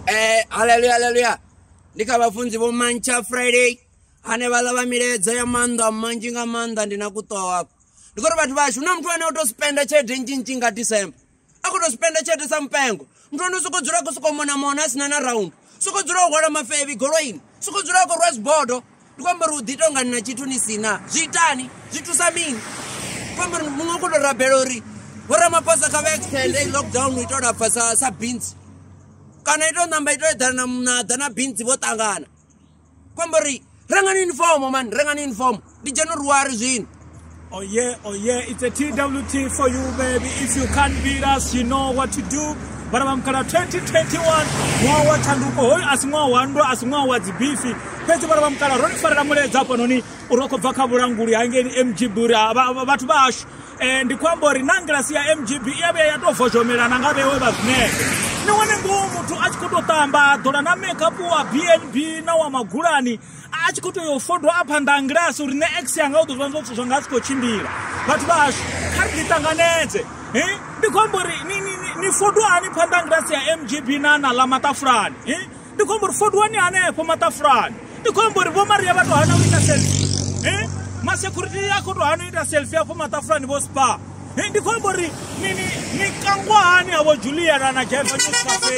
Eh, haleluya haleluya ndi kha vhafunzi vho mantsha friday ane vha ḽa vha milaedza ya maanḓa manzhi nga maanḓa ndi na kuṱoha ndi khou ri vhathu vhashu na muthu ane o to spenda tshelede nzhinzhi nga december a khou to spenda tshelede sa mupengo muthu ane u sokou dzula a khou sokou mona mona a sina na round sokou dzula o hwala mafevi goloini sokou dzula a khou rwa zibodo ndi khou amba uri u ḓi tonga ni na tshithu ni si na zwi itani zwi thusa mini khou amba uri muṅwe u khou tou rabela uri vhoramaphosa kha vha extende lockdown u ita u lapfa sa sa bintsi kana ito ṋamba ito eḓana na ḓa na bintsi vho ṱangana khou amba uri rengani unifomo mani rengani unifomo ndi dzhena uri wari zwino Oh yeah, oh yeah, it's a TWT for you baby. If you can't beat us, you know what to do. vhana vha mukhala 2021 ṅwaha wa tshanduko hoyu a si ṅwaha wa ndwa a si ṅwaha wa dzibifi fhedzi vhana vha mukhala ro ni farela muledza hafhanoni uri ro khou bva kha vhulanguli hangeni mgb uri vhathu vha hashu um ndi khou amba uri na ngilasi ya mgb i ya vhuya ya tou vozhomelana nga vhewe vha zwinee ni wane ngoho muthu a tshi khou tou ṱamba ḓola na makeup wa bnb na wa magulani a tshi khou tea u fodwa a phanḓa a ngilasi uri nṋe x yanga u ḓo zwiwana zwithu zwanga a si khou tshimbila vhathu vha hashu kha ri ḓiṱanganedze ndi khou amba uri ni fodwa hani phanḓa a ngilasi ya mgb na na ḽa maṱafulani ndi khou amba uri fodwani hanefho maṱafulani ndi khou amba uri vho maria vha tou hana u ita selfie masecurity a khou tou hana u ita selfie afho maṱafulani vho spa ndi khou amba uri ni kangwa hani havho juliana na jaiva news cafe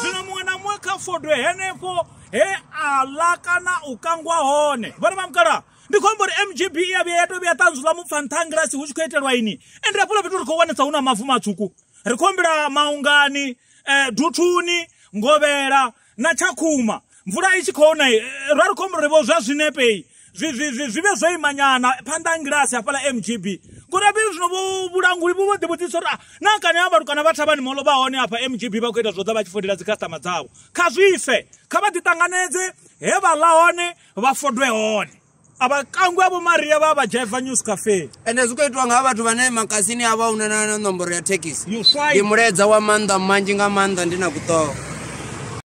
zwino muṅwe na muṅwe kha fodwe henefho he aḽa kana u kangwa hone vhone mamukala ndi khou amba uri mgb i ya vhuya ya tou vhuya ṱanzula mupfa nṱha ngilasi hu tshi khou itelwa ini ende hafhaḽa fhethu ri khou wanesa hu na mavu matswuku ri khou humbela maungani um duthuni ngovhela na tshakhuma mvula i tshi khou na eh, ra ri khou humbela uri vho zwa zwinepe zwi- zwi- zwi- zwi vhe zwo imanyana phanḓa ha ngilasi hafhaḽa mgb ngori apeli zwino vho- vhulanguli vhu vho ḓi vhudzisa uri "Ah, na kani ha vhatukana vha thavhani molo vha hone hafha mgb vha khou ita zwo ḓa vha tshi fodela dzi customer dzavho kha zwife kha vha ḓi ṱanganedze he vha ḽa hone vha fodwe hone a vha kangwi a vho maria vha vha jaiva news cafe ende zwi khou itiwa nga vhathu vhane makasini a vha una na na nomboro ya thekhisi You right. ndi mulaedza wa maanḓa manzhi nga maanḓa ndi na kuṱoho